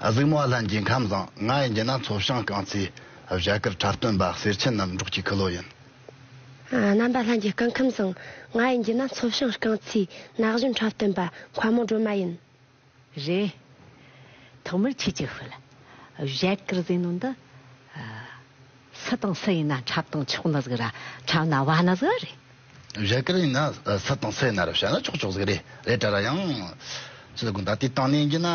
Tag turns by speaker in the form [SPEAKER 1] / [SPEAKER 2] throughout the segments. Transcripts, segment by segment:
[SPEAKER 1] གཟུགས་མ་ལྷན་གྱིས་ཁམས་བཟང་ང་ཡི་འགྱེད་ན་མཚོ་བྱང་རྐང་ཚའི་བཞད་དཀར་ཁྲ་སྟོན་པ་གསེར་ཆེན་རྣམ་འབྲོག་གྱི་ཁུ་ལོ་ཡིན།
[SPEAKER 2] རྣམ་པ་ལྷན་གྱིས་རྐང་ཁམས་བཟང་ང་ཡི་འགྱེད་ན་མཚོ་བྱང་རྐང་ཚའི་ནགས་གཞོན་ཁྲ་སྟོན་པ་མཁའ་མོ་སྒྲོལ་མ་ཡིན། རེད།
[SPEAKER 3] ཐོག་མར་ཁྱེད་ཀྱི་ཧྥུ་ལ་བཞད་དཀར་ཟེར་ནོ་འདི། སུ་དང་སུ་ཡིན་ན་འཁྲབ་དང་ཆོག་ན་ཟིག་ར་འཁྲབ་ན་བ་ན་ཟིག་ར་རེད། རྒྱ་གར་ཡིན་ན་
[SPEAKER 1] སུ་དང་སུ་ཡིན་ན་ར་བྱ་ན་ཆོག་ཆོག་ཟིག་རེད་རེད་དྲ་ར་ཡང། ཅི་ཟེར་གོ་ད་དེ་བཏང་ནས་འགྱིན་ན་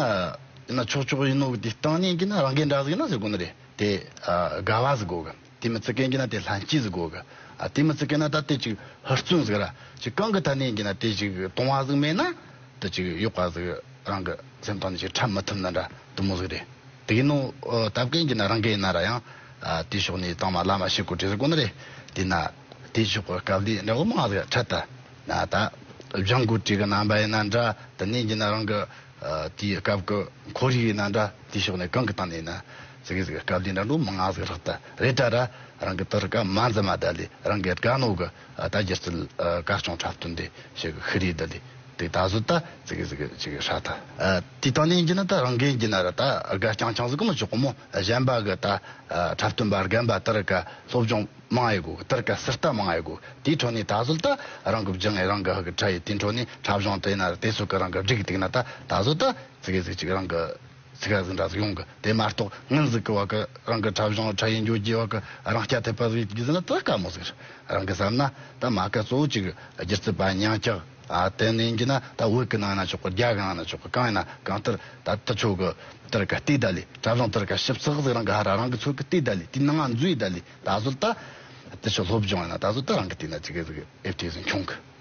[SPEAKER 1] ཡིན་ན་ཆོག་ཆོག་ཡིན་ནོ་གི་དེ་བཏང་ནས་འགྱིན་ན་རང་གའི་འདྲ་ཟིག་ན་ཟེར་གོ་ན་རེད་དེ་དགའ་བ་ཟིག་གོ་གི་དེ་མི་ཙི་ཀའི་འགྱིན་ན་དེ་ལྷན་སྐྱེས་ཟིག་གོ་གི་དེ་མི་ཙི་ཀའི་ན་ད་དེ་ཅིག་ཧུར་བརྩོན་ཟིག་ར་ཅིག་གང་གི་ཐ་ནས་འགྱིན་ན་དེ་ཅིག་དོང་བ་ཟིག་མེད་ན། དུ་ཅིག་གཡོག་པ་ཟིག་རང་གི་སེམས་སྟངས་ཀྱིས་ཁྲབ་མི་ཐུབ་ན་འདྲ་དུ་མོ་ཟིག་རེད་དེ་ཡིན་ནོ་ད་བཀའི་འགྱུར་ན་རང་བཀའི་ཡིན་ན་ར་ཡང་དེའི་ཕྱོགས་ནས་གཙང་མ་བླ་མ་ཞི་དགོས་དྲི་ཟིག་དགོས་ན་རེད་དེ་ན་དེའི་ཕྱོགས་ཀྱི་སྐབས་འདིའི་འདྲ་བོ་མང་ཟིག་ཁྲབ་ད་ད་བཞང་དགོས་དྲི་གི་རྣམ་པ་ཡིན་ན་འདྲ་དུ་ནས་འགྱུར་ན་རང་གི་དེའི་སྐབས་ཀྱི་འཁོར་ཡིག་ཡིན་ན་འདྲ་དེའི་ཕྱོགས་ནས་གང་གི་སྟངས་ནས་ཡིན་ན་ཟིག་གིས་ཟིག་སྐབས་འདིའི་འདྲ་འདྲོ་མང་ཟིག་ལྷག་ད་རེད་ད་ར་རང་གི་དུར་སྐབས་མ་འཛིན་མ་ད་ལས་རང་གི་དགའ་ནོ་གི། ད་རྒྱུ་རྩལ་ག་སྐྱོང་འཁྲབ་སྟོན་དེ་བྱེད་གི་ཁི་རེད་ད་ལི་དེ་ད་གཟོད་ད་ཙི་གི་ཙི་གི་ཅི་གི་ཧྲ་ད་དེ་ད་ནས་འགྱིན་ན་ད་རང་གིས་འགྱིན་ན་ར་ད་ག་ཀྱང་ཀྱང་ཟི་གི་མི་ཆོག་གི་མོ་གཞན་པ་གི་ད་འཁྲབ་སྟོན་པ་རྒན་པ་དིར་ག་སློབ་སྦྱོང་མང་ཨེ་དགོས་གི་དིར་ག་སིར་ལྟ་མང་ཨེ་དགོས་གི་དེའི་ཁྲོད་ནས་ད་གཟོད་ད་རང་གི་བརྒྱུད་ངས་རང་གི་ཧི་གི་ཁྲ་ཡི་དེའི་ཁྲོད་ནས་འཁྲབ་གཞོང་དེ་ན་ར་དེ་སུ་གི་རང་གི་བསྒྲིག་གི་འདུག་ན་ད་ད་གཟོད་ད་ཙི་གི་ཙི་གི་ཅིག་རང་གི། ཚིག་ག་ཟིག་འདྲ་ཟིག་ཡོང་གི་དེ་མ་གཏོགས་དངུལ་ཟིག་གི་བར་གི་རང་གི་འཁྲབ་གཞུང་འཕྲལ་ཡིན་འགྱོད་ཀྱི་བར་གི་རང་སྐྱ་ཐེབས་པ་ཟིག་གིས་ནི་ཙི་དཀའ་མོ་ཟིག་རེད་རང་གིས་བསམ་ན་ད་མ་ག་གཙོ་བོ་གཅིག་སྒྱུ་རྩལ་པ་ཉང་སྐྱག་དེ་ནས་ཡིན་གྱི་ན་ད་བོད་ཀྱི་ནང་ན་ཆོག་གི་རྒྱ་གར་ནང་ན་ཆོག་གི་གང་ཡིན་ན་གང་ལྟར་ད་ཏི་ཆོག་གི་ཏིར་ཀ་ཏི་ད་ལི་འཁྲབ་གཞུང་ཏིར་ཀ་ཞིབ་ཚགས་ཟིག་རང་གི་ཧ་ར་རང་གི་ཚོད་ཀྱི་ཏི་ད་ལི་དེའི་ནང་ང་འཛུལ་ཡི་ད་ལི་ད་གཟོད་ད་ཏི་ཆོག་སློབ་སྦྱོང་ཡིན་ན་ད་གཟོད་ད་རང་གི་ཏི་ན་ཅི་གི་ཟིག་ཨེ་བསྟོད་ཟིག་འཁྱོངས་གི།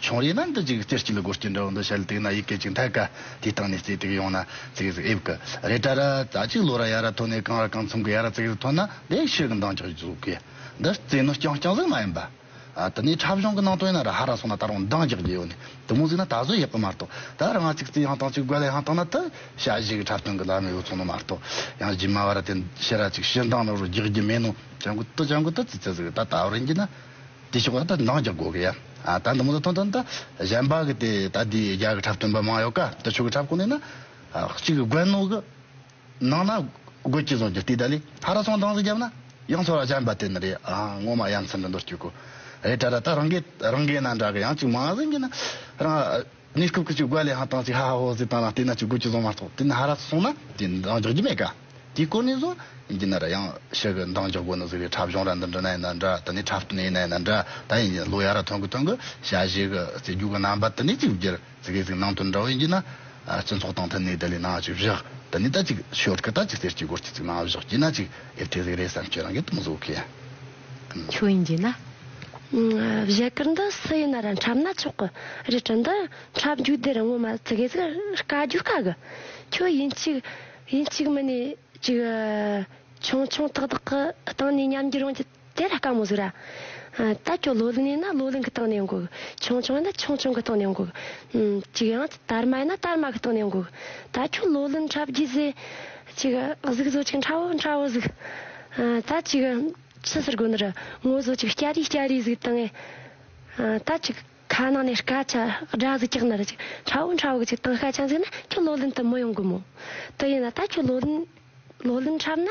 [SPEAKER 1] ཆུང་རིགས་ན་འདི་ཅིག་རྩེ་གཅིག་ལ་སྒོ་གཅིག་འདྲ་བོ་འདི་ཞལ་དེག་ན་ཡི་གེ་གཅིག་མཐའི་ཀ་དེའི་སྟེང་ནས་རྩེ་དེག་ཡོང་ན་ཚིག་ཟིག་དབྱིབས་ཀྱི་རེ་ཏྲ་ར་རྩ་གཅིག་ལོ་ར་ཡ་ར་ཐོ་ནས་གང་ར་གང་མཚུངས་ཀྱི་ཡ་ར་ཚིག་ཟིག་ཐོན་ན་དེག་ཕྱིར་གྱི་མདངས་ཀྱང་རྫོགས་གི། འདི་རྩེ་ནོར་རྐྱང་རྐྱང་ཟིག་མ་ཡིན་པ། དེ་ནས་འཁྲབ་གཞུང་གི་ནང་དོན་ན་ར་ཧ་ར་སོགས་ན་ད་རུང་མདངས་རྒྱག་རྒྱུ་ཡོད་ནི་དེ་མོ་ཟིག་ན་ད་གཟོད་ཡག་གི་མ་རྟོགས་ད་ར་ང་ཚིག་རྩེ་ཡང་དང་ཅིག་རྒོལ་ཡང་དང་ན་དེ་བྱ་གཞི་གི་འཁྲབ་སྟོན་གི་ལམ་ཡོད་ཚོང་ནོ་མ་རྟོགས་ཡང་རྗེས་མ་བ་ར་དེ་ཕྱི་ར་ཅིག་ཕྱི་མདངས་ནོར་བུ་རྒྱག་རྒྱུ་མེད་ནོ་བྱ་འགུལ་དུ་བྱ་འགུལ་དུ་རྩེ་རྩེ་ཟིག་ད་ད་བར་ཡིན་གྱི་ན། དེ་ཕྱོགས་ལ་ད་འདང་རྒྱབ་དགོས་གི་ཡ། ད་འདི་མོ་ད་ཐོན་ཐོན་ད། གཞན་པ་གི་དེ་ད་དེའི་རྒྱ་གི་འཁྲབ་སྟོན་པ་མང་ཡོད་ཀ་ད་ཆོས་གི་འཁྲབ་ཁོ་ནས་ན། གཅིག་གི་དགོན་ནོག་གི། ནང་ན། དགོས་ཅི་བཟང་གྱི་དེ་ད་ལི་ཧ་ར་སོང་འདང་ཟིག་རྒྱབ་ན། ཡང་ཚོ་ར་ཅན་པ་དེ་ན་རེ་ཨ་ངོ་མ་ཡ་མཚན་འདི་འདོར་སྐྱུག་གོ། རེ་ད་ར་ད་རང་གི་རང་གི་ན་འདྲ་གི་ཡང་གཅིག་མང་ཟིན་གི་ན། རང། གནས་སྐབས་ཀྱི་ཆུ་རྒོད་ལའང་ཐང་ཅིག་ཧ་ཧ་ཧོ་ཟེར་དང་ལ་སྟེ་ན་ཆུ་རྒོད་ཀྱི་གཟུངས་མ་ཐོག་དེ་ན་ཧ་ར་སོང་ན་ཀྱི་འདང་རྒྱག་རྒྱུ་མེད་ཀ་དེའི་སྐོར་ནས་བཟུང་ཀྱི་ན་ར་ཡང་ཤི་གི་འདང་རྒྱག་དགོས་ནོ་ཟེར་བའི་འཁྲབ་གཞུང་ར་འདི་འདྲི་ན་ཡིན་ན་འདྲ་དེ་ནས་འཁྲབ་སྟོན་ཡིན་ན་ཡིན་ན་འདྲ་ད་ཡིན་ཀྱི་ལོ་ཡ་ར་ཐོན་གི་ཐོན་གི་བྱ་བྱེད་གི་རྩེད་རྒྱུག་གི་རྣམ་པ་དེ་ནས་ཅིག་བསྒྱུར་ཟེར་གི་ཟིག་ནང་དོན་འདྲ་བོ་ཡིན་གྱི་ན་སྤྱི་ཚོགས་དང་མཐུན་ནས་དེ་ལས་ནང་ཅིག་བཞག་དེ་ནས་ད་ཅིག་ཤོད་གི་ད་ཅིག་གསེར་གྱི་སྒོར་གྱི་ཟིག་ནང་བཞག་གྱི་ན་ཅིག་ཨེ་ཐེ་ཟིག་རེད་བསམ་ཁྱོད་རང་གིས་དུམ་བཟོ་གི། ཆུ་ཡིན་
[SPEAKER 3] གྱི་ན།
[SPEAKER 2] བཞད་དཀར་འདི་སུ་ཡིན་ན་ར་འཁྲབ་ན་ཆོག་གི་རི་གྲི་འདི་འཁྲབ་རྒྱུ་དེར་ངོ་མ་ཙི་གེ་ཙི་དཀའ་རྒྱུ་དཀའ་གི་ཁྱོད་ཡིན་གཅིག་ཡིན་གཅིག་མི་ནས་ཅིག་ཆུང་ཆུང་ཏག་ཏག་གི་སྟེང་ནས་ཉམས་རྒྱུ་རང་གི་དེ་ར་དཀའ་མོ་ཟིག་ར་ད་ཁྱོད་ལོ་ལིང་ཡིན་ན་ལོ་ལིང་གི་སྟེང་ནས་འགུག་གི་ཆུང་ཆུང་ཡིན་ན་ཆུང་ཆུང་གི་སྟེང་ནས་འགུག་གི་ཅིག་ཡང་དར་མ་ཡིན་ན་དར་མ་གི་སྟེང་ནས་འགུག་གི་ད་ཁྱོད་ལོ་ལིང་འཁྲབ་རྒྱུ་ཟེ་གཅིག་གཟུགས་བཟོ་ཅིག་ཁྲ་བོ་ཁྲ་བོ་གཟུགས། ད་ཅིག་ཕྱི་ཟུར་སྒོ་འདིར་ངོ་བཟོ་ཅིག་སྐྱ་རིས་སྐྱ་རིས་གཟུགས། དང་ངས་ད་ཅིག་ཁ་ནང་ནས་སྐ་ཆ་སྦྲ་གཟུགས་ཀྱག་ནར་ཅིག་ཁྲ་བོ་ཁྲ་བོ་གཟུགས་དང་སྐ་ཆ་འཛིན་ན་ཁྱོད་ལོ་ལོན་དུ་མི་ཡོང་གི་མོད་དུ་ཡིན་ན་ད་ཁྱོད་ལོ་ལོན་ལོ་ལོན་འཁྲབ་ན།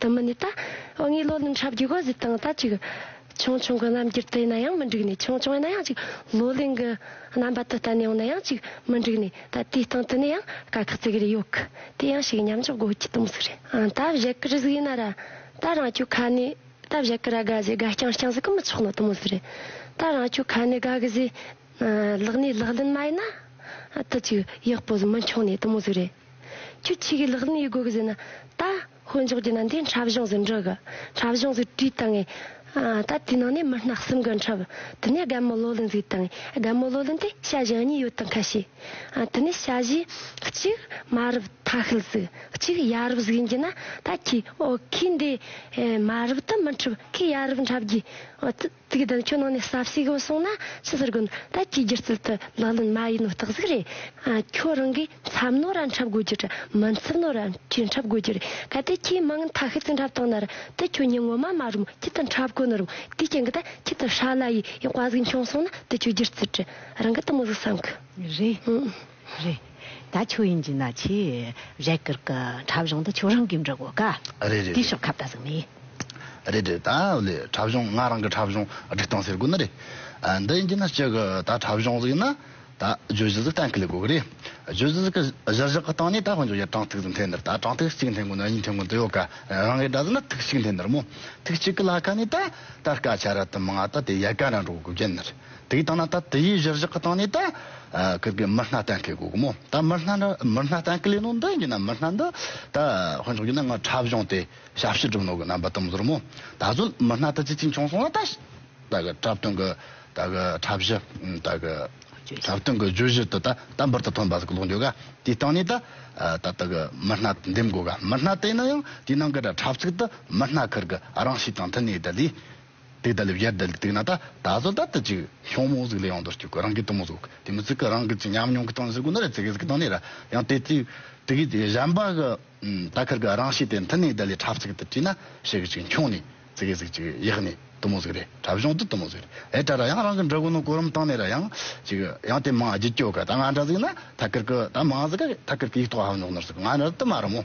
[SPEAKER 2] དུ་མི་གནས། དབང་གིས་བློ་རྣམ་ཧྲ་བརྒྱུད་དགོས་གཟིགས་སྟངས་ལྟ་ཅིག། ཆུང་ཆུང་གི་རྣམ་འགྱུར་དུ་ཡིན་ན་ཡང་མི་འགྲིག་ནས་ཆུང་ཆུང་ཡིན་ན་ཡང་ཅིག་བློ་ལྡན་གྱི་རྣམ་པ་དུ་བསྟན་ཡོང་ན་ཡང་ཅིག་མི་འགྲིག་ནས་ད་ལྟའི་སྟེང་དུ་ནས་ཡང་དཀའ་ཁག་ཙིག་རེ་ཡོད་གི་དེ་ཡང་ཞིག་མཉམ་འཇོག་དགོས་ཀྱི་དུམ་ཟིག་རེད་ཨང་ད་བཞད་གི་རི་ཟིག་ཡིན་ན་ར་ད་རང་ཁྱོད་ཁ་ནས་ད་བཞད་གི་ར་དགའ་བཞེས་དགའ་བསྐྱངས་བསྐྱངས་ཟིག་གི་མི་ཆོག་ནོ་དུམ་ཟིག་རེད་ད་རང་ཁྱོད་ཁ་ནས་དགའ་གི་བཞེས་ལག་ནས་ལག་ལེན་མ་ཡིན་ན་དུ་ཅིག་ཡག་པོ་ཟིག་མི་འཁྱོངས་ནས་དུམ་ཟིག་རེད། ཁྱོད་ཆོས་གོས་ལག་ནས་ཡི་གོ་གི་ཟིན་ན། ད། དཀོན་མཆོག་གི་ནང་དུ་འཁྲབ་གཞུང་ཟིན་འགྲོ་གི། འཁྲབ་གཞུང་ཟིན་དུས་ད་ངས། ད་དེའི་ནང་ནས་མི་སྣ་གསུམ་གི་འཁྲབ། དེ་ནས་སྒམ་མོ་བློ་ལྡན་ཟིག་དང། སྒམ་མོ་བློ་ལྡན་དེ་བྱ་བཞི་གཉིས་ཡོད་དང་ཁ་ཤས། དེ་ནས་བྱ་བཞི། གཅིག། མ་རབས་མཐའ་ཤུལ་ཟིག། གཅིག་ཡ་རབས་ཟིག་ཡིན་གྱི་ན། ད་ཁྱོས། ཨོ། ཁོས་འདི། མ་རབས་དུ་མི་འཁྲབ། ཁོས་ཡ་རབས་འཁྲབ་རྒྱུ། ཚིག་དོན་ཁྱོད་ནང་ནས་ཟབ་ཞིག་ཡོད་སོང་ན་ཅི་ཟེར་དགོས་ད་ཅིའི་རྒྱུ་རྩལ་དུ་ལག་ལེན་མ་ཡིན་ནོ་རྟག་གཟིགས་རེད། ཁྱོད་རང་གིས་འཚབ་ནོ་ར་འཁྲབ་དགོས་རྒྱུ་རེད་མི་འཚབ་ནོ་ར་ཅི་འཁྲབ་དགོས་རྒྱུ་རེད་གལ་ཏེ་ཁྱོས་མ་ངན་ཐ་ཤི་ཚིག་འཁྲབ་བཏང་ན་ར་དེ་ཁྱོད་ཉིད་ངོ་མ་མ་རུམ་ཁྱི་དང་འཁྲབ་དགོས་ནོ་རུང་དེའི་རྐྱེན་གི་ད་ཁྱི་དང་ཧྲ་ལ་ཡི་ཡི་དཔའ་གཟིགས་འཁྱོངས་སོང་ན་དེ་ཁྱོད་རྒྱུ་རྩལ་དྲི་རང་གི་དུ་མོ་གཟིགས་སམ་གི་རེད།
[SPEAKER 3] རེད་ད་ཁྱོད་དབྱིན་ཇི་ན་ཆེ་རེད་ཀིར་ཀི་འཁྲབ་གཞུང་དུ་ཁྱོད་རང་གིས་འགྲོ་དགོས་ཀ་རེད་རེད་དེ་ཤོག་ཁ་བལྟ་
[SPEAKER 1] ཟིག་མི། རེད་རེད་ད་ལོའི་འཁྲབ་གཞུང་ང་རང་གི་འཁྲབ་གཞུང་སྒྲིག་སྟངས་ཟེར་དགོས་ནི་རེད་འདི་དབྱིན་ཇི་ན་སྤྱི་གི་ད་འཁྲབ་གཞུང་ཟིག་ཡིན་ན་ད་བརྗོད་གཞི་ཟིག་གཏན་འཁེལ་དགོས་ཀི་རེད་བརྗོད་གཞི་ཟིག་གཞི་བཞག་གི་སྟེང་ནས་ད་དཔོན་ཆུང་ཡི་གྲངས་ཐིག་ཟིག་འཐེན་ནི་རེད་ད་གྲངས་ཐིག་གཅིག་འཐེན་དགོས་ན་གཉིས་འཐེན་དགོས་ནི་ཡོད་ཀ་རང་གིས་འདྲ་ཟིག་ན་ཐིག་གཅིག་འཐེན་ནི་རེད་མོ་ཐིག་གཅིག་གི་ལ་ཁ་ནས་ད་ད་སྐ་ཆ་ར་དི་མང་ད་དེ་ཡལ་ག་འདྲ་འགྲོ་དགོས་ཀི་རྒྱུ་ཡིན་ནི་རེད། དེ་གིས་བཏང་ན་ད་དེ་ཡིས་གཞིར་བཞག་གི་སྟེང་ནས་ད་ཀིར་གི་མི་སྣ་གཏན་འཁེལ་དགོས་ཀི་མོ། ད་མི་སྣ་འདྲ་མི་སྣ་གཏན་འཁེལ་ཡིན་ནོ་འདི་ཡིན་ན་མི་སྣ་འདི་ད་དཔོན་ཚོགས་ཡིན་ན་ང་འཁྲབ་གཞུང་དེ་ཞབས་ཕྱི་སྒྲུབ་ནོ་གི་རྣམ་པ་དུམ་བཟོར་མོ། ད་གཟོད་མི་སྣ་དེ་ཅི་ཅིག་འབྱུང་སོང་ལ་ད་ད་ཀི་འཁྲབ་སྟོན་གི་ད་ཀི་འཁྲབ་གཞི་ད་ཀི་འཁྲབ་སྟོན་གི་བརྗོད་གཞི་དེ་ད་ད་འབུར་དུ་ཐོན་པ་ཟིག་ཀློག་འཇོག་ག་དེའི་སྟེང་ནས་ད་ད་ད་ཀི་མི་སྣ་འདེམས་དགོས་ག་མི་སྣ་དེ་ཡིན་ན་ཡང་དེའི་ནང་གི་འཁྲབ་ཚིག་དེ་མི་སྣ་ཀིར་གི་རང་གཤིས་དང་མཐུན་ནས་ད་དེའི། དེ་ལྟ་ལས་བརྒྱད་བསྡད་དེ་ན་ད་ད་གཟོད་བདག་ལྟ་ཅི་ཤོག་མོ་གཟུགས་ལས་ཡོང་དོར་སྐྱུག་གི་རང་གི་གཏུམ་མོ་གཟུགས་དེ་མི་ཚིག་གི་རང་གི་ཅི་ཉམས་མྱོང་གི་སྟོང་ཟེར་དགུ་ནི་རེ་ཚིག་གི་ཟེར་གི་སྟོང་ནི་ར་ཡང་དེ་དུས་དུས་ཀྱི་དེ་གཞན་པ་གི་ད་ཁར་གི་རང་ཤེས་དེ་མཐུན་ནས་བདག་ལས་འཁྲབ་ཚིག་དུ་བྲིས་ན་ཤེས་གི་ཅིག་འཁྱོངས་ནས་ཚིག་གི་ཟིག་ཅིག་ཡག་ནི་གཏུམ་མོ་གཟུགས་རེ་འཁྲབ་གཞུང་དུ་གཏུམ་མོ་གཟུགས་རེ་ཨེ་འཁྲབ་ར་ཡང་རང་གི་འདྲ་སྐུ་ནོར་གོ་རིམ་སྟོང་ནི་ར་ཡང་ཅིག་ཡང་དེ་མང་བརྒྱུད་སྐྱོག་གི་ད་ང་འདྲ་ཟིག་ན་ད་ཁར་གི་ད་མང་ཟིག་གི་ད་ཁར་གི་ཡིག་ཐོག་ཧ་མྱོག་ནོར་ཟིག་ང་འདྲ་དུ་མ་རུ་མོ།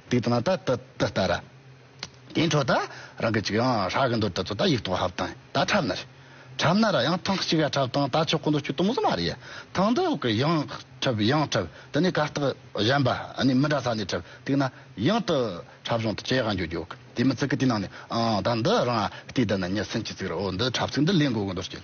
[SPEAKER 1] དེ་དང་ད་ད་ད་ད་ར། དེའི་འཕྲོ་ད་རང་གི་ཅིག་ཡང་ཧྲ་གི་འདོད་ད་ཚོ་ད་ཡིག་ཐོག་ཧབ་དང་ད་ཁྲབ་ན་རེ། ཁྲབ་ན་ར་ཡང་ཐང་གཅིག་ཡ་ཁྲབ་དང་ད་ཆོག་གོ་འདོད་ཆུ་དུམ་བཟོ་མ་རེ་ཡ་ཐང་འདི་ཡོག་གི་ཡང་ཁྲབ་ཡང་ཁྲབ་དེ་ནས་ག་རྟགས་གཞན་པ་ནི་མི་འདྲ་ས་ནས་ཁྲབ་དེ་ན་ཡང་དུ་ཁྲབ་བྱུང་དུ་ཅེ་ག་འགྱོ་འགྱོ་གི་དེ་མི་ཚིག་གི་དེ་ནང་ནས་ཨང་ད་འདི་རང་ཨ་ཏི་ད་ན་ཉི་སིན་གྱི་ཚིག་ར་འོ་འདི་ཁྲབ་ཚིག་འདི་ལེན་དགོ་གི་འདོད་ཀྱི།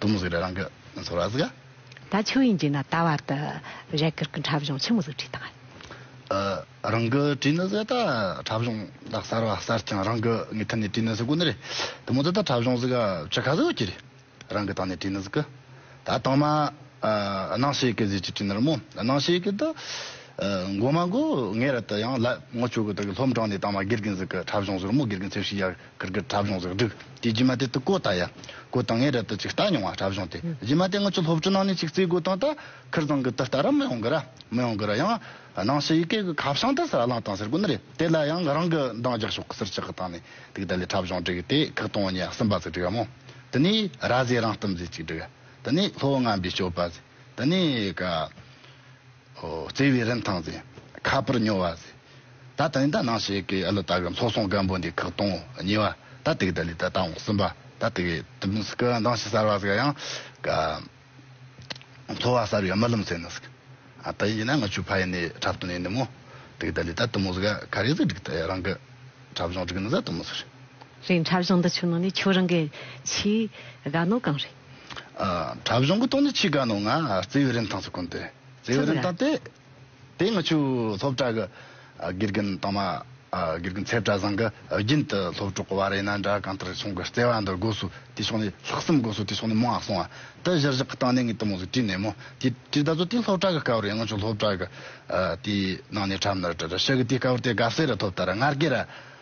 [SPEAKER 1] དུ་མུ་ཟི་རི་རང་གི་ཚོར་བ་གཟིགས། ད་ཆོས་ཡིན་
[SPEAKER 3] གྱིས་ན་ད་བར་དུ། རས་གུར་གྱི་འཁྲབ་གཞུང་ཆུ་མུ་ཟི་བྲིས་དང།
[SPEAKER 1] རང་གི་བྲིས་ནི་ཟེར་ད་འཁྲབ་གཞུང་ད་གསར་བ་གསར་རྐྱང་རང་གི་ངའི་ཐད་ནས་བྲིས་ནི་ཟིག་གོ་ནི་རེད་དུ་མུ་ཟི་ད་འཁྲབ་གཞུང་ཟིག་ཆུ་ཁ་ཟིག་གི་རེད་རང་གི་ཐང་ནས་བྲིས་ནི་ཟིག་གི་ད་དང་མ་སྣང་ཤེས་གི་ཟིག་ཅིག་བྲིས་ནི་རི་མོ་སྣང་ཤེས་གི་ད་མགོ་མ་མགོ་ངས་ར་ད་ཡང་ལ་ངོ་ཆོས་གི་ད་གི་ལྷོམ་གྲང་ནས་དང་མ་དགེ་རྒན་ཟིག་གི་འཁྲབ་གཞུང་ཟིག་རི་མོ་དགེ་རྒན་ཚེ་བཤིག་ཡ། གུར་གྱི་གྲབས་གཞུང་གཟིགས་སྒྲིག་དེ་རྗེས་མ་དེ་དུ་བསྐོ་བཏང་ཡ་བསྐོ་བཏང་ངས་རབ་ཏུ་ཅིག་བལྟ་མྱོང་བ་གྲབས་གཞུང་དེ་རྗེས་མ་དེ་ངོ་ཆུ་ལྷོབ་ཆུ་ནང་ནས་ཅིག་རྩིས་དགོས་དོན་དུ་ཁིར་ཚང་གི་དུ་བལྟ་ར་མི་ཡོང་གི་ར་མི་ཡོང་གི་ར་ཡང་ནང་ཕྱི་ཡི་གེ་གི་ཁ་བྱང་དུ་ཟ་ལང་བཏང་ཟེར་གོ་ནི་རེད་དེ་ལ་ཡང་ང་རང་གི་འདང་རྒྱག་ཤོག་གི་ཟེར་ཅག་གི་བཏང་ནས་དུག་དལ་ལས་གྲབས་གཞུང་སྒྲིག་དེ་ཁག་སྟོང་ཉེ་གསུམ་པ་ཟིག་སྒྲིག་ཡ་མོ་དེ་ནས་ར་བཟའི་རང་གཏམ་ཟིག་ཅིག་སྒྲིག་ཡ་དེ་ནས་ལྷོ་བ་རྔམ་པའི་སྤྱོད་པ་ཟིག་དེ་ནས་ག། བརྩེ་བའི་རིན་ཐང་ཟེར། ཁ་པར་ཉོ་བ་ཟེར། ད་ད་ནི་ད་ནང་ཞིག་གི་ཨ་ལོ་ད་གི་ལྷོ་སོང་སྒམ་པོ་འདི་ཁག་སྟོང་གཉིས་བ་ད་དེ་གི་ད་ལི་ད་ད་འོང་སིམ་པ་ད་དེ་གི་དུ་མི་སི་ཀི་འདང་ཞིག་སར་བ་ཟེར་ཡང་གི་འཚོ་བ་སར་བའི་རྨི་ལམ་ཟེར་ནི་སི་ཀི་ད་ཡིན་གྱི་ན་ང་ཆུ་ཕ་ཡིན་ནི་འཁྲབ་སྟོན་ཡིན་ནི་མོ་དེ་གི་ད་ལི་ད་དུ་མོ་སི་ཀི་ག་རེ་ཟིག་འགྲིག་ད་ཡ་རང་གི་འཁྲབ་གཞོང་འགྲིག་ནི་ཟ་དུ་མོ་སི་རེད། རེད་འཁྲབ་གཞོང་འདི་ཆུ་ནང་ནི་ཁྱོད་རང་གི་ཆུའི་
[SPEAKER 3] དགའ་ནོར་གང་རེད།
[SPEAKER 1] དྲ་གཞུང་གི་ཐོག་ནས་ཆེས་དགའ་ནོ་ང་རྩེ་ཡོ་རིན་ཐང་སུ་གུན་ཏེ་རྩེ་ཡོ་རིན་ཐང་ཏེ་དེ་ང་ཆུ་སློབ་གྲྭ་གི་དགེ་རྒན་དང་མ་དགེ་རྒན་ཚེ་བཀྲ་བཟང་གི་རྒྱུན་དུ་སློབ་གྲོགས་བ་རེད་ན་འདྲ་གང་ལྟར་ཁྱུང་གི་རྩེ་བ་འདི་དགོས་སུ་དེ་ཕྱོགས་ནས་ལྷག་བསམ་དགོས་སུ་དེ་ཕྱོགས་ནས་མང་སོང་བ་དེ་གཞིར་བཞག་གི་སྟངས་ནས་ངའི་གཏི་མུག་ལ་དྲིས་ནས་མོ་དེ་དྲིས་ད་གཟོད་དེ་སློབ་གྲྭ་གི་སྐབས་རེད་ང་ཆུ་སློབ་གྲྭ་གི་དེའི་ནང་ནས་གྲབས་ནི་རེད་དྲ་ཤག་གི་དེའི་སྐབས་རེད་དགའ་བསུ་རེད་ཐོབ་ད་ར་ངར་སྐད་ར།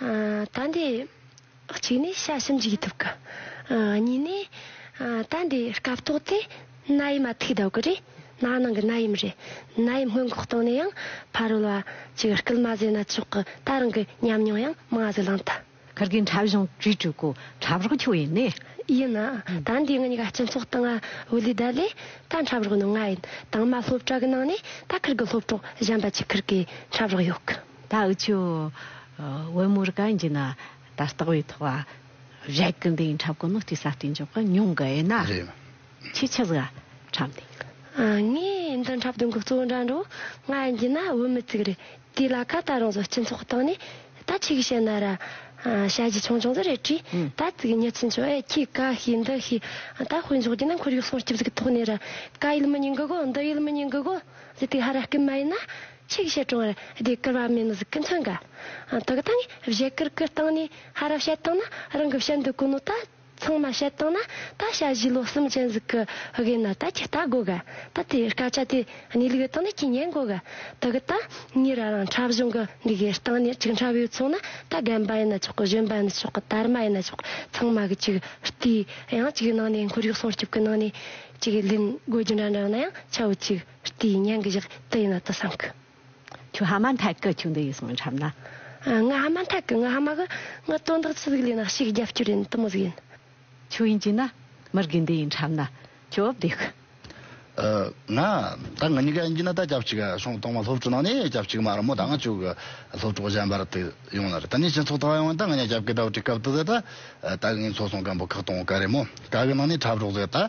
[SPEAKER 3] ད་འདི། གཅིག་
[SPEAKER 2] ནི་ཤ་ཞིམ་གྱི་ཐུབ་ཀི། གཉིས་ནི། ད་འདི་སྐབས་ཐོག་དེ་ན་ཡི་མ་ཐུག་ཟློག་གི་རེད། ན་ནང་གི་ན་ཡིམ་རེད། ན་ཡིམ་སྔོན་འགོག་བཏང་ནས་ཡང་ཕ་རོལ་བ་ཅིག་སྐུལ་
[SPEAKER 3] མ་བཟོས་ན་ཆོག་གི་ད་རང་གི་ཉམས་མྱོང་ཡང་མང་བཟོས་ལངས་ཐ། གར་གི་འཁྲབ་གཞུང་བྲིས་བྲིས་གོ་འཁྲབ་རོགས་ཁྱོ་ཡིན་ནི། ཡིན།
[SPEAKER 2] ད་འདི་ང་གཉིས་ཀ་སྤྱི་ཚོགས་སྟེང་དབུ་ལུས་བསྡད་ལས་ད་འཁྲབ་རོགས་ནི་ང་ཡིན་དང་མ་སློབ་གྲྭ་གི་ནང་ནས་ད་ཁར་གི་སློབ་གྲོགས་གཞན་པ་ཅིག་ཁར་གི་འཁྲབ་རོགས་ཡོད་གི། ད་འུ་ཆོས་
[SPEAKER 3] དབོན་མོ་རུ་ཀ་འཇི་ན་ད་ལྟག་བའི་ཐོག་བ་བཞད་གི་འདི་འཁྲབ་གི་ནོ་ཏི་ས་ཏི་འཇོག་གི་ཉུང་གི་ཨེ་ན་ཁྱི་ཁྱི་ཟིག་ཨ་འཁྲབ་འདི་གི། ངས་
[SPEAKER 2] འདི་འཁྲབ་དོན་གི་གཙོ་བོ་འདྲ་འགྲོ་ང་འཇི་ན་བོད་མི་ཙིག་རེད་དེ་ལ་ཁ་ད་རང་བཟོ་སྤྱི་ཚོགས་སྟེང་ནས་ད་ཁྱི་གི་བྱེད་ན་ར་བྱ་བྱི་ཆུང་ཆུང་ཟིག་རེད་དྲིས་ད་ཙིག་གི་མྱི་ཚིག་འཇོག་ཨེ་ཁྱི་ཀ་ཤི་འདི་ཤི་ད་དཔོན་འཇོག་འདི་ན་འཁོར་ཡུག་སོང་སྐྱིབ་ཟིག་གི་ཐོག་ནས་ར་ཀ་ཡུལ་མི་ཉི་འགི་གོ་འདི་ཡུལ་མི་ཉི་འགི་གོ་ཟིག་དེ་ཧ་ར་སྐད་མ་ཡིན་ན། ཆིག་བཞི་གྲོང་བར་སྡེ་བསྐོར་བ་མེད་མོད་སྐུ་མཚོན་འགའ། ཐོག་དང་བཞེད་བསྐུར་སྐུ་བཏང་ནས་ཧ་ར་བཤད་བཏང་ན་རང་གི་བཤད་འདོད་གོ་ནོ་ད། ཚང་མ་བཤད་བཏང་ན་ད་བྱ་བཞི་ལོ་གསུམ་ཅན་ཟིག་གི་དབེན་ན་ད་ཁྱི་རྟ་སྒོ་ག་ད་དེ་དཀའ་ཆ་དེ་གནས་ལུགས་བཏང་ན་ཁྱི་ཉན་སྒོ་ག་ད་གི་ད། ངའི་ར་རང་འཁྲབ་གཞུང་གི་འདི་གའི་སྟེང་ནས་ཅིག་འཁྲབ་ཡོད་ཚོང་ན་ད་རྒན་པ་ཡིན་ན་ཆོག་གི་གཞོན་པ་ཡིན་ན་ཆོག་གི་དར་མ་ཡིན་ན་ཆོག་ཚང་མ་གི་ཅིག་བལྟས་ཡང་ཅིག་ནང་ནས་འཁོར་ཡུག་སྲུང་སྐྱོབ་གི་ནང་ནས་ཅིག་ལེན་དགོས་རྒྱུ་འདྲ་འདྲ་ཡོང་ན་ཡང་ཆ་བོ་ཅིག། ལྟས་ཡིན་སྙན་གྱི་བཞག་ལྟས་ཡིན་ན་དུ་སངས་ཀྱི། ཁྱོད་ཧ་མ་
[SPEAKER 3] མཐའ་ཀི་ཁྱོད་འདི་ཡི་སོང་འཁྲབ་ན། ང་ཧ་མ་མཐའ་
[SPEAKER 2] ཀི་ང་ཧ་མ་གི་ང་དོན་དག་ཅི་ཟིག་ལས་ན་ཕྱིས་རྒྱབ་སྐྱོར་ཡིན་དུ་མོ་ཟིག་ཡིན། ཁྱོད་ཡིན་གྱིས་ན།
[SPEAKER 3] མི་རྒན་འདི་ཡིན་འཁྲབ་ན། ཁྱོད་འོབས་དེ་ཀི།
[SPEAKER 1] ང། ད་ང་གཉིས་ཀ་ཡིན་གྱིས་ན་ད་སྐྱབས་གཅིག་སོང་གཏོང་མ་སློབ་གྲོགས་ནང་ནས་སྐྱབས་གཅིག་མ་རུ་མོ་ད་ང་ཅུག་སློབ་གྲོགས་གཞན་པར་དུ་ཡོང་ལར་ད་ནས་སྤྱི་ཚོགས་ཐོག་ཡོང་ན་ད་ང་གཉིས་སྐྱབས་ཀི་ད་བྲིས་སྐབས་དུ་ཟེར་ད། ད་གི་ངའི་འཚོ་སོང་སྐམ་པོ་ཁག་གཏོང་ག་རེ་མོ་ད་གི་ནང་ནས་འཁྲབ་རོགས་ཟེར་ད།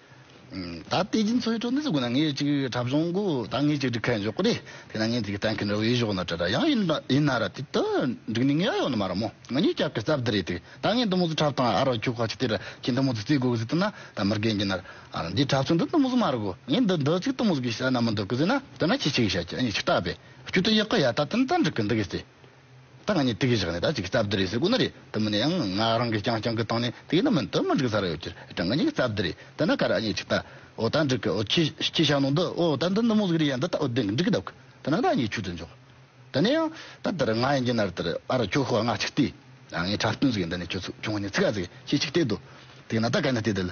[SPEAKER 3] ད་ལྟའི་རྒྱུ་མཚན་
[SPEAKER 1] ཁྲོད་ནས་གོ་ན་ངས་གཅིག་གྲབས་གཞུང་གོ་ད་ངས་གཅིག་འགྲིག་མཁན་ཡོད་གོ་རེད་དེ་ན་ངས་འགྲིག་གཏན་འཁེལ་འགྲོ་གི་གཞོག་ན་དྲི་ར་ཡང་ཡིན་ཡིན་ན་ར་དེ་དུ་འགྲིག་ནི་ངས་ཡོག་ནི་མ་ར་མོ་ང་གཉིས་སྐྱབས་ཀྱི་རྩ་བདུད་རེད་དེ་ད་ངས་འདི་མོ་ཟུ་འཁྲབ་དང་ཨ་རོ་ཁྱོད་ཁ་ཆུ་དེ་ར་ཁྱི་འདི་མོ་ཟུ་རྩིས་དགོས་གི་ཟིག་ཐུ་ན་ད་མི་རྒན་གྱི་ན་ར་འདིའི་འཁྲབ་ཚུལ་འདི་འདི་མོ་ཟུ་མ་ར་གོ་ངས་འདི་འདི་ཚིག་འདི་མོ་ཟུ་གི་ཤ་ན་མི་འདུག་གི་ཟིག་ན་དེ་ན་ཁྱི་ཁྱི་གི་ཤ་ཁྱི་ཨ་ནི་ཁྱི་སྟག་པས་ཁྱོད་དུ་ཡག་གི་ཡ་ད་དེ་ན་ད་འགྲིག་གི་འདུག་གི་ཟིག་ད་ང་གཉིས་དེ་གའི་བཞག་ནས་ད་ཅིག་རྩ་བདེ་རེད་ཟེར་དགོས་ན་རེད་དེ་མིན་ན་ཡང་ང་རང་གིས་ཀྱང་རྐྱང་གི་བཏང་ནས་དེ་གའི་ནང་མི་འདི་མི་འགྲིག་ས་རེད་འོ་ཁྱོད་ཀྱང་ང་གཉིས་ཀྱི་རྩ་བདེ་རེད་དེ་ན་ག་རེ་ཨ་མྱེས་ཅིག་ད་འོ་ད་འགྲིག་གི་འོ་ཁྱོས་ཁྱོས་བཞག་ནོ་འདི་འོ་ད་འདི་ནུབ་མོ་ཟིག་རེད་ཡ་འདི་ད་འོ་བདེ་གི་འགྲིག་གི་ད་གུ་དེ་ན་ད་ཨ་མྱེས་ཁྱོད་ཚོ་འཇོག་དེ་ནས་ཡང་ད་དེར་ང་ཡིན་གྱི་ན་རེ་དེར་ཨ་ར་ཁྱོ་ཤོག་ཨ་ང་ཅིག་བལྟས་ཨ་ངའི་འཁྲབ་སྟོན་ཟིག་ཡིན་འདི་ནས་ཁྱོད་ཚོ་ཁྱོ་ང་གཉིས་ཚིག་ག་ཟིག་ཡིན་ཅིག་ཅིག་བལྟས་དོ་དེ་གི་ན་ད་ག་ནས་བལྟས་དེ་ལ།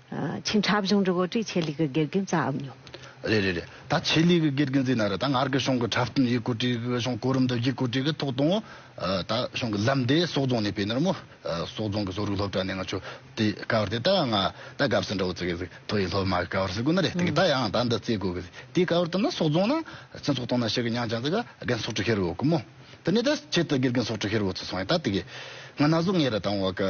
[SPEAKER 3] ཆིང་ཁྲ་བཞུང་རི་བོ་ཀྲི་ཆེ་ལི་གི་དགེ་རྒན་རྩ་འམ་ཉོ། རེད་རེད་
[SPEAKER 1] རེད་ད་ཆེ་ལི་གི་དགེ་རྒན་རྩིས་ན་རེད་ད་ངར་གི་གཞུང་གི་ཁྲ་བསྟུན་ཡིག་སྐུར་བྲིས་གི་གཞུང་གོ་རིམ་དུ་ཡིག་སྐུར་བྲིས་གི་ཐོག་དང་ད་གཞུང་གི་ལམ་དེ་སོག་རྫོང་ནས་སྤེལ་ནོར་མོ་སོག་རྫོང་གི་བཟོ་རིག་སློབ་གྲྭ་ནས་ང་ཆོ་དེ་ཀ་བར་དེ་ད་ང་ད་དགའ་བསུ་འདྲ་བོ་བརྩི་གི་ཟིག་ཐོ་ཡིག་སློབ་མ་གི་ཀ་བར་བརྩི་དགོས་ན་རེད་དེ་ད་ཡང་ད་འདི་བརྩི་དགོས་གི་ཟིག་དེ་ཀ་བར་དུ་ན་སོག་རྫོང་ན་སྤྱི་ཚོགས་སྟོང་ན་ཤི་གི་མྱང་ཅང་ཟིག་ག་རྒན་སོག་ཀྲི་ཧེ་རུ་ཡོད་གི་མོ་དེ་ནས་ད་ཆེད་དུ་དགེ་རྒན་སོག་ཀྲི་ཧེ་རུ་བོ་བརྩི་སོང་ཡིན་ད་དེ་གི་ང་ན་ཟུག་ངེས་རེད་ད་འོ་གི།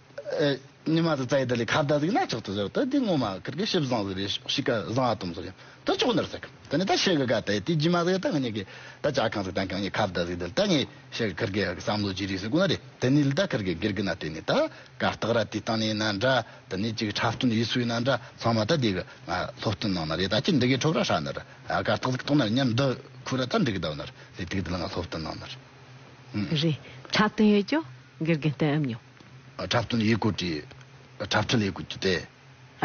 [SPEAKER 1] ཉི་མ་དང་རྩྭའི་རྡུལ་ལས་ཁ་བརྡ་གཟིགས་ན་ཆོག་ཏུ་ཟེར་བ་དང་དེ་སྔོན་མ་ཁར་གྱི་ཤིབ་བཟང་ཟེར་བའི་ཤོག་ཤིག་ག་བཟང་བ་དུམ་བཟོ་རྒྱུ་དེ་ཅོག་འདིར་བསྲེག་གམ་དེ་ནས་ད་ཤེལ་གྱི་ག་དེ་དེ་རྒྱུས་མ་ཟེར་ད་ངེད་གྱི་ད་ཅག་གང་ཟིག་དང་གང་གི་ཁ་བརྡ་ཟིག་དེ་ལ་ད་ངེད་ཤེལ་གྱི་ཁར་གྱི་ཡ་གི་བསམ་བློ་ཅི་རིགས་ཟིག་གོ་ན་རེ་དེ་ནས་ལི་ད་ཁར་གྱི་སྒེར་གྱི་ན་དེ་ནས་ད་ག་སྟག་ར་དེ་སྟངས་ནས་ན་འདྲ་དེ་ནས་ཅིག་འཁྲབ་སྟོན་ཡིད་སུ་ཡི་ན་འདྲ་ཚང་མ་ད་དེ་གི་ང་སློབ་སྟོན་གནང་ན་རེ་ད་ཅི་འདི་གའི་ཁྲོབ་ར་ཧྲ་ན་རེ་ད་ག་སྟག་ཟིག་གཏོང་ན་རེ་ཉམས་འདི་ཁུ་ར་ད་འདི་གི་ད་བ་ན་རེ་དེ་དེ་གི་དེ་ལ་ང་སློབ་སྟོན་གནང་ན་རེ། རེད་འཁྲབ་
[SPEAKER 3] སྟོན་ཡོད་ཀྱོ་སྒེར་གྱི་སྟོན་ཨེ་མྱོང། འཁྲབ་སྟོན་ཡིག་
[SPEAKER 1] སྐུར་གྱི། འཁྲབ་སྟོན་ཡིག་སྐུར་གྱི་དེ།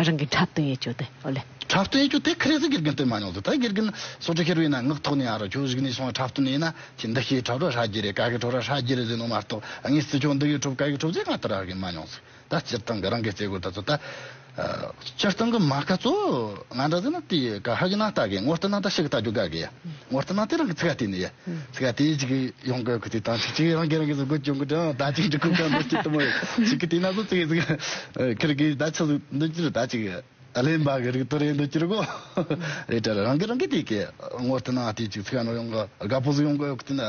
[SPEAKER 1] རང་གི་འཁྲབ་སྟོན་
[SPEAKER 3] ཡིག་སྐྱུར་དེ་ཨོ་ལེ། འཁྲབ་སྟོན་ཡིག་སྐྱུར་དེ་ཁ་རས་
[SPEAKER 1] སུ་དགེ་རྒན་སྟོན་མ་མྱོང་ཟེར་ད་དགེ་རྒན་སོ་ཁྲི་ཁེར་བའི་ན་ངག་ཐོག་ནས་ཨ་རོ་ཁྱོད་གཞིགས་ནས་སོང་བ་འཁྲབ་སྟོན་ཡིན་ན་ཁྱི་འདི་ཤིག་འཁྲབ་གྲོགས་ཧྲ་གི་རེད་ཀ་གི་གྲོགས་ར་ཧྲ་གི་རེད་ཟེར་ནོ་མ་གཏོགས་ངས་སྲིད་སྐྱོང་འདི་གི་འཁྲུབ་ཀ་གི་འཁྲུབ་ཚེ་ང་ལྟར་ཨ་གི་མ་མྱོང་ཟེར་ད་སྤྱིར་བཏང་གི་རང་གི་རྩེད་དགོད་ད་ཚོད་ད། སྤྱིར་བཏང་གི་མཱ་ཀ་ཙོ་ང་འདྲ་ཟེར་ན་དེ་ག་ཧ་གི་ན་ལྟ་གི་ངོ་སྟེ་ན་ད་ཤི་གི་ལྟ་རྒྱུ་ག་གི་ངོ་སྟེ་ན་དེ་རང་གི་ཚིག་ག་དེ་ནི་ཡ་ཚིག་ག་དེ་ཅིག་ཡོང་གི་གི་དེ་དང་ཤི་ཅིག་རང་གི་རང་གི་ཟུག་གི་ཅུང་གི་དང་ད་ཅིག་ཅིག་ཁུག་ག་འདོད་ཅིག་དུ་མ་ཤི་གི་དེ་ན་ཟུག་ཚིག་གི་ཚིག་ཁིར་གི་ད་ཆུ་ཟུག་འདོད་ཅིག་ད་ཅིག་གླེན་པ་གི་རིག་ཏུ་རེད་འདོད་ཅིག་གོ་རེད་དྲ་རང་གི་རང་གི་དེ་གི་ངོ་སྟེ་ན་དེ་ཅིག་ཚིག་ག་ནོར་ཡོང་གི་ག་པོ་ཟུག་ཡོང་གི་གི་དེ་ན།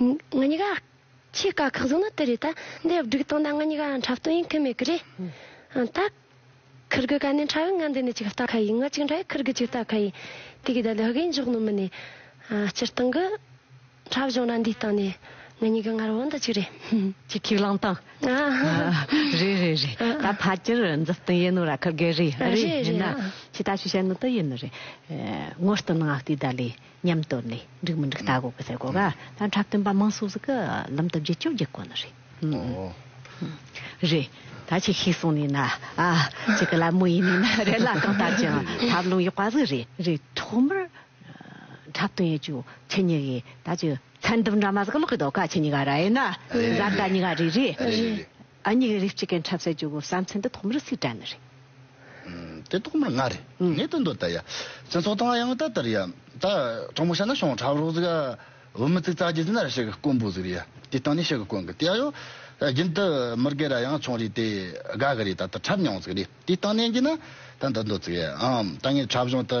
[SPEAKER 2] ང་གཉིས་ཀ་ཆེས་དཀའ་ཁག་བཟུང་ན་དེ་རེད་ད་འདི་སྒྲིག་སྟངས་ད་ང་གཉིས་ཀ་འཁྲབ་སྟོན་ཡིན་ཁུལ་མེད་ཀི་རེད་ད། ཁུར་དགུ་ག་ནས་འཁྲབ་ཡིན་ང་འདི་ནས་ཅིག་ལྟ་ཁ་ཡིན་ང་གཅིག་འཁྲབ་ཡིན་ཁུར་དགུ་ཅིག་ལྟ་ཁ་ཡིན་དེ་གི་ད་ལུ་གིས་མགྱོགས་ནུ་མི་ནས་སྤྱིར་བཏང་གི་འཁྲབ་གཞུང་ར་འདི་སྟངས་ནས་ང་གཉིས་ཀ་ངར་བོ་འདི་ཅིག་རེད། ཅིག་ཁིག་ལངས་
[SPEAKER 3] སྟངས་རེད་རེད་རེད་ད་ཕ་ཅིར་འཛུལ་སྟངས་ཡིན་ནུ་ར་ཁུར་དགེ་རེད་རེད་མིན་ན་ཅིག་ད་ཤུ་བྱ་ནུ་དི་ཡིན་ནི་རེད་ངོ་སྟོན་ང་ལྟོས་ད་ལས། ཉམས་བཏོད་ནས་འགྲིག་མི་འགྲིག་ལྟ་དགོས་ཀི་ཟེར་དགོས་ག་ད་འཁྲབ་སྟོན་པ་མང་སུ་སུ་གི་ལུམ་བཏབ་རྗེས་བཅོས་རྒྱག་གོ་ནི་རེད་ཧུམ། རེད་ད་ཁྱི་ཤི་སོང་ནི་ན་ཨ་ཅི་གི་ལ་མོ་ཡིན་ནི་ན་རེད་ལ་གང་ལྟར་ཀྱང་འཁྲབ་ལུང་ཡོག་པ་ཟིག་རེད་རེད་ཐོག་མར་འཁྲབ་སྟོན་ཡོད་ཀྱི་ཁྱི་གཉི་གི་ད་ཀྱི་མཚན་འདུམ་འདྲ་མ་ཟིག་ཀི་ལོག་གི་འདུག་ག་ཁྱི་གཉི་ག་ར་ཨེ་ན་ཟ་ད་གཉི་ག་རེད་རེད། རེད་རེད། ཨ་མྱེ་
[SPEAKER 1] གི་རིགས་གཅིག་གི་འཁྲབ་སའི་ཇོ་བོ་བསམ་ཚེ་འདི་ཐོག་མར་སི་ཀྲ་ནི་རེད། དེ་ཐོག་མར་ང་རེད། ངས་ཏན་ཏོ་ད་ཡ། སྤྱི་ཚོགས་དང་ཡང་ད་དར་ཡ། ད་གྲོགས་མོ་ཤ་ན་ཤོང་འཁྲབ་རོགས་ཟིག་ཨ། བུ་མི་ཙིག་ཙག་གྱི་སི་ན་ར་ཤི་གི་དཀོན་པོ་ཟིག་རེད་ཡ། དེ་སྟང་ནས་ཤི་གི་དཀོན་གི་དེ་ཨ་ཡོ། རྒྱུན་དུ་མི་དགའི་ར་ཡང་ཆུང་རེད་དེ། དགའ་གི་རེད་ད་ད་འཁྲབ་མྱོང་ཟིག་རེད། དེ་སྟང་ནས་གྱི་ན་ད་འདི་འདོད་ཟིག་ཨ། ད་ངས་འཁྲབ་གཞུང་དུ།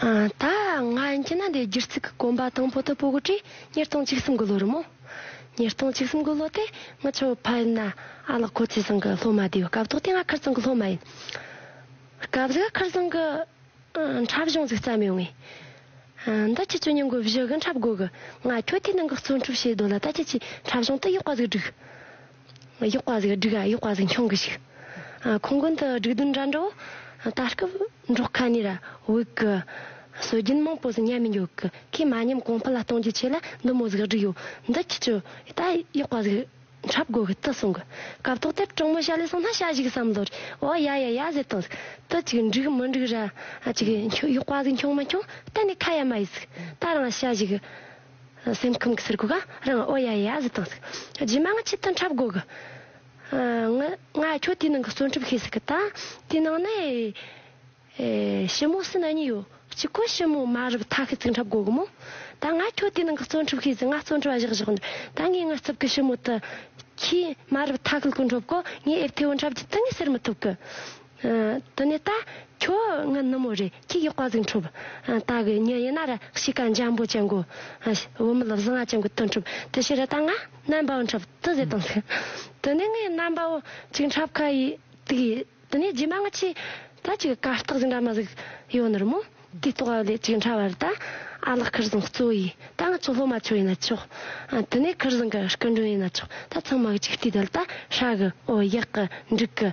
[SPEAKER 2] ད་སྔ་ཁྱི་ན་དའི་སྒྱུར་རྩིས་ཀྱི་གོམ་པ་དང་པོ་དུ་སྤོ་དགོས་དུས་ཉིས་སྟོང་གཅིག་གསུམ་གྱི་ལོ་རུ་མོ། ཉིས་སྟོང་གཅིག་གསུམ་གྱི་ལོ་དེ་ངི་ཆོ་ཕ་ཡིན་ན་ཨ་ལགས་ཁོ་ཚེ་བཟང་གི་སློབ་མ་བསྡད་ཡོད་སྐབས་དོག་དེ་ང་ཁིར་ཙང་གི་སློབ་མ་ཡིན་སྐབས་གཟིག་ཁིར་ཙང་གི་འཁྲབ་གཞུང་གཟིག་བརྩམས་ཡོད་ངེས། འདི་ཁྱི་ཆོས་ཉིན་གྱི་བཞི་གི་འཁྲབ་དགོས་གི་ང་ཁྱོད་དེའི་ནང་གི་རྩོལ་འཁྲུབ་བྱེད་དོ་ལ་ད་ཁྱི་ཆེའི་འཁྲབ་གཞུང་དུ་ཡོག་པ་ཟིག་བསྒྲིགས། གཡོག་པ་ཟིག་སྒྲིག་གཡོག་པ་ཟིག་མཆོང་གི་ཞིག། ཁོང་དགོན་དུ་སྒྲིག་དུ་འདྲ་འགྲོ། ད་སྐབས་འབྲོག་ཁ་ནས་བོད་ཀྱི་སྲོལ་རྒྱུན་མང་པོ་ཟིག་ཉམས་མི་འགྱུར་གི་ཁོས་མ་ཉམས་གོང་འཕེལ་ལ་གཏོང་རྒྱུ་ཆེ་ལ་འདི་མོ་ཟིག་སྒྲིག་ཡོད་འདི་ཁྱི་ཆུ་ད་གཡོག་པ་ཟིག་འཁྲབ་དགོས་གི་དི་གསུང་གི་སྐབས་ཐོག་དེབ་གྲོགས་མོ་ཤ་ལས་སོང་ན་ཤ་བཞུགས་བསམ་བློ་རེད་འོ་ཡ་ཡ་ཡ་ཟེར་སྟངས་ཟིག་དི་ཅིག་འགྲིག་མི་འགྲིག་ར་ཅིག་གཡོག་པ་ཟིག་མཆོང་མ་མཆོང་གཏན་ནས་ཁ་ཡ་མ་ཡི་ཟིག་ད་རང་ཤ་བཞུགས་སེམས་ཁམས་ཀྱི་ཟུར་གོ་ག་རང་ཨོ་ཡ་ཡ་ཟི་དང་ཟིག། རྗེས་མ་ང་ཁྱེད་དང་འཁྲབ་དགོས་གི། ངི། ང་ཁྱོད་དེའི་ནང་གི་གསོན་འཁྲབ་ཤེས་ཟིག་གི་ད། དེའི་ནང་ནི། ཞི་མོ་སི་ན་གཉིས་ཡོད་གཅིག་གོ་ཞི་མོ་མ་རབ་ཐ་ཤི་ཚིག་འཁྲབ་དགོས་གི་མོ། ད་ང་ཁྱོད་དེའི་ནང་གི་གསོན་འཁྲབ་ཤེས་ཟིག་ང་གསོན་འཁྲབ་བཞག་བཞག་འདུག་ད་ངས་ངའི་རྩིབ་གི་ཞི་མོ་དུ། ཁྱི། མ་རབ་ཐ་ཤི་ལ་གོ་འཁྲབ་གོ་ངས་ཨེར་ཐེ་བོ་འཁྲབ་རྒྱུ་དེ་ངས་ཟེར་མི་ཐུབ་གི། དེ་ནས་ད་ཁྱོད་ངའི་ནུ་མོ་རེད་ཁྱེད་ཀྱིས་དཔའ་གཟིགས་འཁྲུབ། ད་གི་ཉིན་ཡིན་ན་ར་ཤི་ཀ་འཇམ་པོ་ཅན་གོ། བུ་མོ་ལ་བཟི་ང་ཅན་གོ་དུ་འཁྲུབ་དེ་ཕྱིར་ད་ང་རྣམ་པའོ་འཁྲབ་དུ་ཟེར་དང་ཟེར། དེ་ནས་ངའི་རྣམ་པའོ་གཅིག་འཁྲབ་ཁ་ཡི་དུག་ཡི་དེ་ནས་རྗེས་མ་ང་ཆེ་ད་ཅིག་དཀའ་རྟགས་ཟིག་འདྲ་མ་ཟིག་ཡོད་ནི་རི་མོ་དུས་རྟོག་བ་ལས་གཅིག་འཁྲབ་བར་ད་ཨ་ལགས་ཁིར་བཟང་གཙོ་བོ་ཡི་ད་ང་ཚོ་སློབ་མ་ཆོག་ཡིན་ན་ཆོག། དེ་ནས་ཁིར་བཟང་གི་སྐུ་མགྲོན་ཡིན་ན་ཆོག་ད་ཚང་མ་གཅིག་བལྟས་དལ་ད་ཧྲ་གི་ཨོ་ཡག་གི་འགྲིག་གི།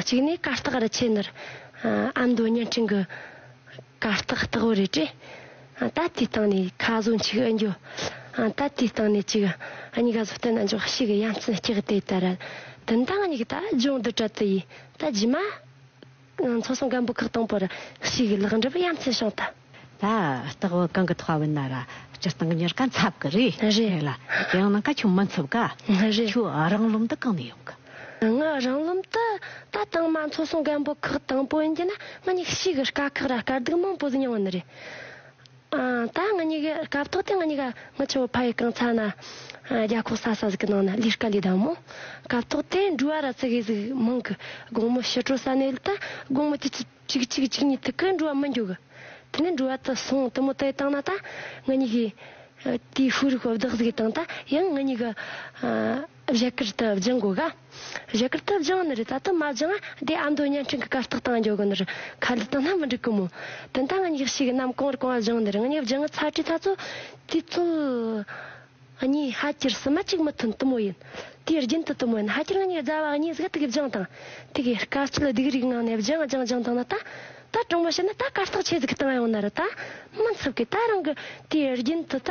[SPEAKER 2] གཅིག་ནས་ཀ་རྟགས་རི་ཆེན་ནར་ཨ་མདོ་བརྙན་འཕྲིན་གྱི་ཀ་རྟགས་རྟགས་བུ་རེད་དྲན། ད་ལྟའི་སྟེང་ནས་ཁ་བཟོ་མཆིག་ཨེ་འགྱོ། ད་ལྟའི་སྟེང་ནས་ཅིག་གཉིས་ཀ་བཟོ་བསྟན་ཨེ་འགྱོ་ཤིག་དབྱངས་ཚན་གཅིག་དེ་ལྟར་རལ། དུན་དང་གཉིས་ཀ་ད་སྦྱོང་བསྡུ་བྲལ་དུ་ཡིན་ད་རྗེས་མ། མཚོ་སྲུང་སྒམ་པོ་ཁག་དང་པོར་ཞུགས་ལག་འགྲུབ་ཡ་མཚན་བྱུང་སྟེ། ད་ལྟག་
[SPEAKER 3] བོད་གང་གི་མཐོ་བ་བོད་ན་ར་སྤྱི་སྟངས་གཉེར་ཀ་འཚབ་གི་རེད། རེད་ལ། དེ་ཡང་ནང་ཀ་ཆུ་མི་འཚུབ་ཀ། རེད། ཆུ་རང་ལུམ་དུ་གང་ནས་ཡོང་གི། ངའི་རང་ལུམ་
[SPEAKER 2] དུ་ད་དང་མ་མཚོ་སྲུང་སྒམ་པོ་ཁག་དང་པོ་ཡིན་གྱི་ན་ངའི་ཞུགས་དཀའ་ཁག་ར་དཀའ་སྡུག་མང་པོ་མྱོང་ནི་རེད། ད་ང་གཉིས་ཀའི་སྐབས་ཐོག་དེ་ང་གཉིས་ཀ་ངི་ཆོ་ཕ་ཡི་རྐང་ཚ་ན་རྒྱ་ཁོག་ས་ས་ཟིག་གི་ནང་ན་ལིས་ཀ་ལིས་དང་མོ་སྐབས་ཐོག་དེ་འབྲུ་བ་ར་ཚི་གི་ཟིག་མང་གི་དགོང་མོ་ཕྱི་དྲོ་ས་ནས་ལི་ད་དགོང་མོ་ཅི་ཅི་ཅིག་ཅིག་ཅིག་ཉིས་ཐིག་གི་འབྲུ་བ་མི་འགྱོ་གི་དེ་ནས་འབྲུ་བ་དི་སོང་དི་མོ་དི་བཏང་ན་ད་ང་གཉིས་ཀའི་དེའི་ཧུའུ་རིག་པ་བདག་ཟིག་གི་བཏང་ད་ཡང་ང་གཉིས་ཀ་བཞད་གད་དུ་སྦྱང་དགོས་ག། བཞད་གད་དུ་སྦྱང་ནི་རེད་ད་དུ་མ་སྦྱང་ཨ་དེ་ཨ་མདོ་བརྙན་འཕྲིན་གི་གར་སྟེགས་སྟེང་འགྱོ་གི་ནི་རེད་ཁ་འདི་དང་སྣ་མི་འགྲིག་གི་མོ། དེ་འདའ་ངན་ཡག་ཤོས་ཀྱི་རྣམ་གོང་རི་གོང་ཨ་སྦྱང་ནི་རེད་ངན་ཡག་སྦྱང་ངི་ཚ་དྲི་ཚ་ཚོ་དུས་ཚོད་གཉིས་ཧ་གྱར་སི་མ་གཅིག་མི་ཐོན་དུ་མོ་ཡིན་དེའི་རྒྱུན་དུ་དུ་མོ་ཡིན་ཧ་གྱར་ངན་ཡག་རྫ་བ་གཉིས་གཟིགས་དུ་གི་སྦྱང་དང་དེ་གི་དཀའ་སྤྱད་སྡིག་རིག་ངང་ནས་སྦྱང་སྦྱང་སྦྱང་དང་ན་ད་ད་གྲོང་མོ་བྱས་ན་ད་གར་སྟེགས་ཆེ་ཟིག་གི་སྟེང་ཡོང་ན་རི་ད་མི་འཚུབ་གི་ད་རང་གི་དེའི་རྒྱུན་དུ་ད།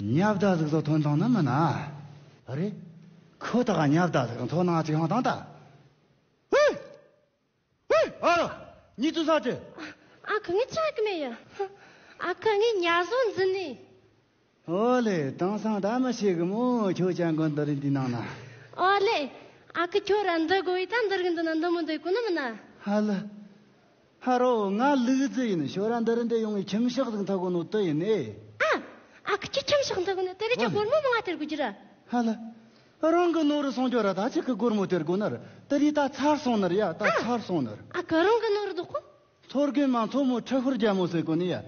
[SPEAKER 1] ཉག་བརྡ་གཟིགས་སོགས་ཐོན་སྟངས་ནི་མི་སྣ་རེད། ཁོ་ཐག་ཉག་བརྡ་གཟིགས་དང་ཐོན་སྣང་གཅིག་ཧང་ཐང་ལྟ་བུ། ཨ་རོ། གཉིད་ཚུལ་ཟ་གི། ཨ་ཁུ་ངས་ཆག་
[SPEAKER 2] གི་མེད་ཡ། ཨ་ཁུ་ངས་ཉལ་བཟོ་འཛིན་ནས། ཨོ་
[SPEAKER 1] ལེ། དེང་སང་ད་མི་ཤེས་གི་མོ་ཁྱོད་སྤྱང་དགོན་འདི་རིགས་འདི་ནང་ན། ཨོ་ལེ།
[SPEAKER 2] ཨ་ཁུ་ཁྱོད་ར་འདི་དགོ་ཡི་ད་འདི་རིགས་འདི་ན་འདི་མི་འདི་དགོ་ནི་མི་སྣ། ཧ་ལི།
[SPEAKER 1] ཧ་རོ། ང་ལུག་རྫི་ཡིན། ཞོ་ར་འདི་རི་འདི་ཡོང་བའི་ཁྱིམ་གཤག་ཟིག་མཐའ་གོ་ནོ་དི་ཡིན་ཨེ། ཨ། ཨ་ཁུ་
[SPEAKER 2] ཁྱི་ཁྱིམ་གཤག་མཐའ་གོ་ནོ་དི་རི་ཁྱི་སྒོར་མོ་མོ་ང་དེར་དགོ་རྒྱུ་ར། ཧ་ལ།
[SPEAKER 1] རང་གི་ནོར་རི་སོང་རྒྱུ་ར་ད་ཅི་གི་སྒོར་མོ་དེར་དགོ་ནར་དི་རི་ད་ཚར་སོང་ནར་ཡ་ད་ཚར་སོང་ནར། ཨ་ཁུ་རང་གི་ནོར་རི་དགོ་
[SPEAKER 2] ཁོ། མཚོ་རྒན་མ་མཚོ་
[SPEAKER 1] མོ་ཁྲི་ཧུར་རྒྱལ་མོ་ཟེར་གོ་ནི་ཡ།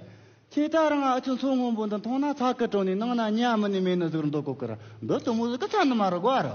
[SPEAKER 1] ཁྱེད་ད་རང་ཨ་ཁྱི་མཚོ་སྔོན་པོ་འདི་མཐོང་ན་ཚ་གི་དྲོ་ནི་ནང་ན་གཉའ་མི་ནི་མེད་ནི་ཟུག་རུ་འདོག་གོ་གི་ར་འདི་དུ་མོ་ཟུག་གི་ཚ་ནི་མ་རུ་དགོ་ཨ་རོ།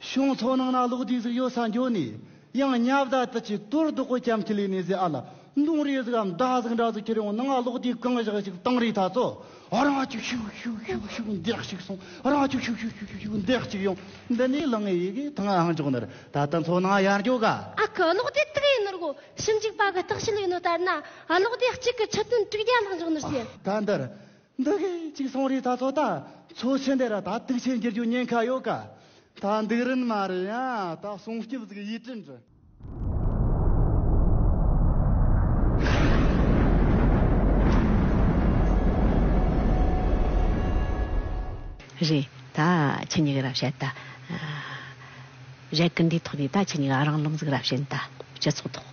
[SPEAKER 1] ཤོང་ཚོ་ནང་ན་
[SPEAKER 2] ལོག་དུས་
[SPEAKER 1] གཟིགས་ཡོད་ས་
[SPEAKER 2] འགྱོ་ནས་
[SPEAKER 1] ཡང་
[SPEAKER 4] ཉབ་ད་དུ་ཆུ་དོར་རྡོག་གོ་ཁྱམས་ཁྱི་ལས་ནས་ཟེ་ཨ་ལ་མདུང་རེ་གཟིགས་འམ་དགྲ་གཟིགས་འདྲ་གཟིགས་ཁྱི་རེ་འོང་ན་ང་ལོག་དུས་གང་བཞག་ཞིག་བཏང་རེ་ད་ཚོ་ཨ་རང་ཅུག་ཤུག་ཤུག་ཤུག་ཤུག་འདེགས་ཤིག་སོང་ཨ་རང་ཅུག་ཤུག་ཤུག་ཤུག་ཤུག་འདེགས་ཅིག་ཡོང་འདི་ནས་ལང་ཨེ་ཡི་གི་ཐང་ཨང་ཅོག་ནར་ད་ད་ཚོ་ནང་ཡར་འགྱོ་ག། ཨ་ཁུ་ལོག་དེ་དུག་
[SPEAKER 2] ཡིན་ནོར་གོ་ཞིབ་འཇུག་པ་གི་རྟགས་བཤད་ཡོད་ནོ་ལྟར་ན་ཨ་ལོག་དེ་གཅིག་གི་ཆུ་དོན་དྲུག་བརྒྱ་ལྷག་འཇོག་ནོར་ཟེ། ད་འདིར་
[SPEAKER 4] འདི་གི་ཅིག་སོང་རི་ད་ཚོ་ད་ཚོ་ཆི་འདི་ར་ད་དུག་ཆི་འགྱུར་རྒྱུ་ཉེན་ཁ་ཡོད་ག་ད་འདུག་རིན་མ་རེད་ཡ་ད་སོང་སྐྱིབ་གཟིག་ཡིད་དྲིན་དྲི།
[SPEAKER 3] རི་ད་ཆི་ཉི་གི་ར་བཤད་ད། རེད་གི་འདི་ཐོག་ནས་ད་ཆི་ཉི་ག་རང་ལུང་གཟིག་ར་བཤད་ད་སྤྱི་ཚོགས་ཐོག།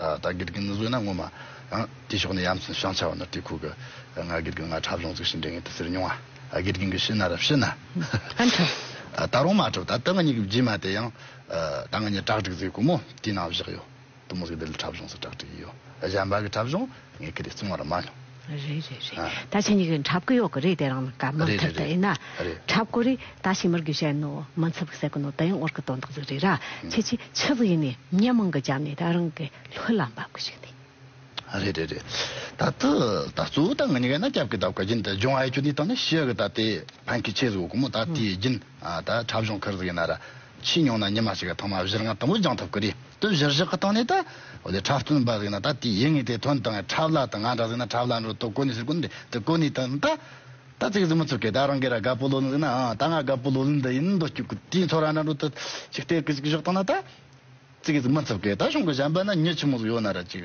[SPEAKER 1] ད་དགེ་རྒན་ནི་བཟོས་ན་ངོ་མ། དེའི་ཕྱོགས་ནས་ཡ་མཚན་བྱང་ཆ་བ་ནོར་དེ་ཁུག་གི། ང་དགེ་རྒན་ང་འཁྲབ་གཞུང་བཙུགས་ཤིང་འདྲེ་ངན་དུ་སེར་མྱོང་ང། དགེ་རྒན་གྱི་ཤི་ན་རབས་ཤི་ན། ཨ་
[SPEAKER 3] འཁྲབ། ད་རུང་མ་
[SPEAKER 1] འཁྲབ་ད་ད་ང་གཉིས་ཀྱི་རྗེས་མ་དེ་ཡང། ད་ང་གཉིས་བྲག་སྒྲིག་བཟོས་དགོས་མོ་དེའི་ནང་བཞག་ཡོད། དུ་མོ་གིས་འདི་ལ་འཁྲབ་གཞུང་སུ་བྲག་སྒྲིག་གི་ཡོད། གཞན་པ་གི་འཁྲབ་གཞུང། ངས་ཁྱེད་ལ་གསུང་བ་ར་མ་མྱོང། རེད་རེད་རེད་ད་
[SPEAKER 3] ཕྱི་གཉིས་ཀའི་འཁྲབ་སྐུ་ཡོག་གི་རེད་དེ་རང་ནང་ཀ་མར་འཁྲབ་ད་ཡིན་ན་འཁྲབ་སྐུ་རི་ད་ཕྱི་མར་གུ་ཤའི་ནོ་མ་འཚབ་གི་སེ་གུ་ནོ་ད་ཡང་ཨོར་གི་དོན་དག་ཟིག་རེད་ར་ཁྱེད་ཀྱི་ཆི་ཟིག་ཡིན་ནས་མྱི་མང་གི་རྒྱབ་ནས་ད་རང་གི་ལྷུ་ལ་འབབ་གི་ཞིག་འདུག། རེད་རེད་
[SPEAKER 1] རེད་ད་ད་ད་སུ་ད་ང་གཉིས་ཀའི་ན་སྐྱབས་ཀྱི་དབ་ཀ་རྒྱུན་ད་སྦྱོང་ཨའི་ཁྱོད་ནི་ད་ནི་ཤི་ཡག་གི་ད་དེ་ཕན་ཁི་ཆེ་ཟིག་འོ་གུ་མོ་ད་དེ་རྒྱུན་ད་འཁྲབ་གཞོང་ཁར་ཟིག་ཡིན་ན་ར། ཕྱིས་མྱོང་ན་ཉི་མ་ཞིག་གི་ཐོག་མ་བཞིར་ང་དང་པོ་སྦྱང་ཐུབ་ཀྱི་རེད་དོན་བཞིར་བཞག་གི་སྟེང་ནས་ད་འཕྲལ་བཙུན་པ་ཟིག་ན་ད་དེའི་ཡིད་ངེས་དེ་དོན་དང་འཁྲབ་ལ་དང་ང་འདྲ་ཟིག་ན་འཁྲབ་ལ་འགྲོ་དོ་གོ་ནི་ཟེར་གོ་ནི་འདྲ་གོ་ནི་དང་ད་ད་ཙིག་གཟིགས་མི་ཚུགས་ཀི་ད་རང་གི་ར་དགའ་པོ་ལོ་ནི་ཟིག་ན་ཨང་ད་ང་དགའ་པོ་ལོ་ལི་འདི་ཡིན་འདོད་སྐྱུག་གི་དེའི་ཚོ་ར་འདྲ་འགྲོ་དུ་ཅིག་སྟེར་གི་ཅིག་བཞག་དང་ན་ད་ཙིག་གཟིགས་མི་ཚུགས་ཀི་ད་གཞུང་གི་བྱམས་པ་ན་མྱི་ཆི་མོ་ཟིག་ཡོད་ན་ར་ཅིག་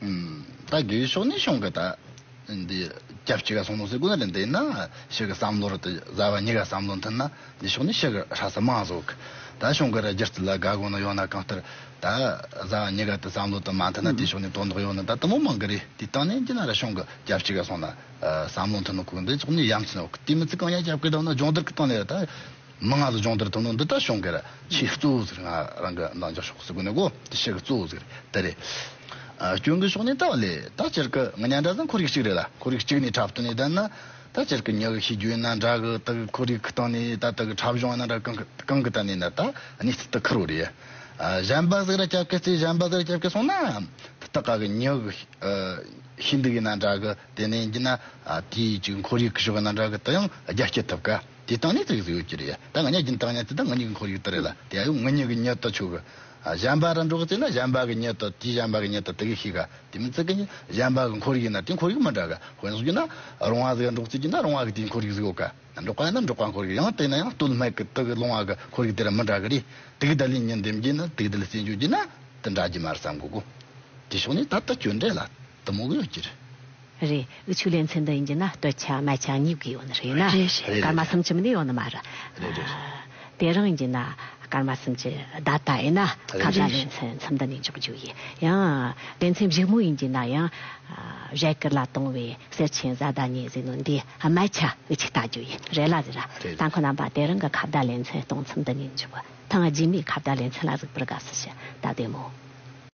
[SPEAKER 1] ད་གུའི་ཕྱོགས་ནས་ཤོང་གི་ད། འདི་སྐྱབས་གཅིག་ག་སོང་ནོ་ཟེར་དགོས་ན་འདི་ན་ཤི་གི་བསམ་བློར་དེ་བཟའ་བ་གཉིས་ཀ་བསམ་བློ་མཐུན་ན་འདི་ཕྱོགས་ནས་ཤི་གི་ཧྲ་ས་མང་བཟོ་གི་ད་ཤོང་གི་ར་སྒྱུ་རྩལ་ལ་དགའ་དགོས་ན་ཡོང་ན་གང་ལྟར་ད་བཟའ་བ་གཉིས་ཀ་དེ་བསམ་བློ་དེ་མ་མཐུན་ན་དེ་ཕྱོགས་ནས་དོན་དག་ཡོང་ན་ད་དུ་མོ་མང་གི་རེད་དེ་སྟེང་ནས་འདི་ན་ར་ཤོང་གི་སྐྱབས་གཅིག་ག་སོང་ན་བསམ་བློ་མཐུན་ནོ་གུ་འདི་ཕྱོགས་ནས་ཡ་མཚན་ནོ་གི་དེ་མི་ཚེ་གང་ཡ་སྐྱབས་གི་ད་ན་སྦྱོང་བརྡར་གི་སྟེང་ནས་ད། མི་ང་ལ་སྦྱོང་བརྡར་ཐུབ་ན་འདི་ལྟར་བྱུང་གིར་ཆེས་གཙོ་བོ་ཟེར་ང་རང་གི་འདང་རྒྱག་ཕྱོགས་སུ་གོ་ནས་གོ་དེ་ཤི་གི་གཙོ་བོ་ཟེར་དེ་རེད། སྐྱོན་གྱི་ཕྱོགས་ནས་ལྟ་བ་ལས་ད་སྤྱིར་གི་ང་གཉའ་འདྲ་ཟེར་འཁོར་ཡུག་གཅིག་རེད་ལ་འཁོར་ཡུག་གཅིག་ནས་འཁྲབ་སྟོན་ནས་བསྡད་ན་ད་སྤྱིར་གི་ཉག་གི་ཤེས་རྒྱུ་ཡིན་ན་འདྲ་གི་དག་གི་འཁོར་ཡུག་གི་སྟེང་ནས་ད་དག་གི་འཁྲབ་གཞུང་ཡིན་ན་འདྲ་གང་གི་གང་གི་སྟེང་ནས་ན་ད་གནས་ཚུལ་དུ་འཁུར་བ་རེད། གཞན་པ་ཟིག་ར་སྐྱབས་ཀྱི་རྩེ་གཞན་པ་ཟིག་ར་སྐྱབས་ཀྱི་སོང་ན་ད་དག་ག་གི་ཉག་གི་ཤེས་འདུག་ཡིན་ན་འདྲ་གི་དེ་ནས་འགྱིན་ན་དེའི་གཅིག་འཁོར་ཡུག་གི་ཕྱོགས་ཡིན་ན་འདྲ་གི་དེ་ཡང་རྒྱ་བསྐྱེད་ཐུབ་གི། དེ་སྟངས་ནི་ཚིག་གཟུགས་ཡོད་ཀྱི་རེད་ད་ང་གཉའ་གྱིན་སྟངས་ཡང་ཚིག་དང་ང་གཉིས་ཀྱི་འཁོར་ཡུག་ལྟར་རེད་ལ་དེ་ཡང་ང་གཉིས་ཀྱི་གཉའ་ལྟར་ཆོག་གི། གཞན་པ་རང་འགྲོ་གི་ཚེ་ན་གཞན་པ་གྱི་གཉའ་ལྟར་དེ་གཞན་པ་གྱི་གཉའ་ལྟར་དེ་གི་ཤེས་ག་དེ་མིན་ཚིག་གི་གཞན་པ་གྱི་འཁོར་ཡུག་ན་དེ་འཁོར་ཡུག་མི་འདྲ་གི་དཔོན་གསུངས་རྒྱུ་ན་རོང་བ་ཟིག་ལ་འགྲོ་གི་ཚེ་རྒྱུ་ན་རོང་བ་གི་དེའི་འཁོར་ཡུག་ཟིག་ཡོད་གི། འབྲོག་པ་ཡིན་ན་འབྲོག་པ་འཁོར་ཡུག་ཡང་དེ་ན་ཡང་སྟོད་སྨད་ཀྱི་དག་གི་ལུང་བ་གི་འཁོར་ཡུག་དེ་ར་མི་འདྲ་གི་རེད་དེ་གི་དག་ལས་ཉིན་འདེམས་རྒྱུ་ན་དེ་གི་དག་ལས་སེམས་གཅོད་རྒྱུ་ན་དེ་འདྲ་གྱི་མ་རེད་བསམ་དགོས་གོ། དེ་ཕྱོགས་ནས་ད་ལྟ་ཁྱོད་འདྲ་ལ། དུ་མོ་གཡོག་གྱི་རེད།
[SPEAKER 3] རེད། ཆུ་ལེན་ཚེ་འདི་ཡིན་གྱི་ན་སྟོད་ཆ་སྨད་ཆ་གཉིས་དགོས་ཡོད་ནི་རེད་ན། རེད་རེད། སྐར་མ་སུམ་ཅུ་མི་ནི་ཡོད་ནི་མ་རེད། རེད་རེད། དེ་རང་ཡིན་གྱི་ན་སྐར་མ་སུམ་ཅུ་ད་ལྟ་ཡིན་ན་ཁ་བརྡ་ལེན་ཚེ་མཚམས་འདི་ནས་འཇོག་རྒྱུ་ཡིན་ཡང། ལེན་ཚེ་བཞུགས་མོ་ཡིན་གྱི་ན་ཡང། བཞད་དཀར་ལ་དུང་བའི་སེར་ཆེན་བཟའ་ཟླ་གཉིས་ཟིག་ནོ་འདི་སྨད་ཆ་དབུས་ཆ་བལྟ་རྒྱུ་ཡིན་རེད་ལ་ཟེར། རེད། ད་ཁོ་རྣམ་པ་དེ་རང་གི་ཁ་བརྡ་ལེན་ཚེ་གཏོང་མཚམས་འདི་ནས་འཇོག། ཐང་རྗེས་མའི་ཁ་བརྡ་ལེན་ཚེ་ལ་ཟུག་པར་དགའ་བསུ་ཞུ་ད་བདེ་མོ།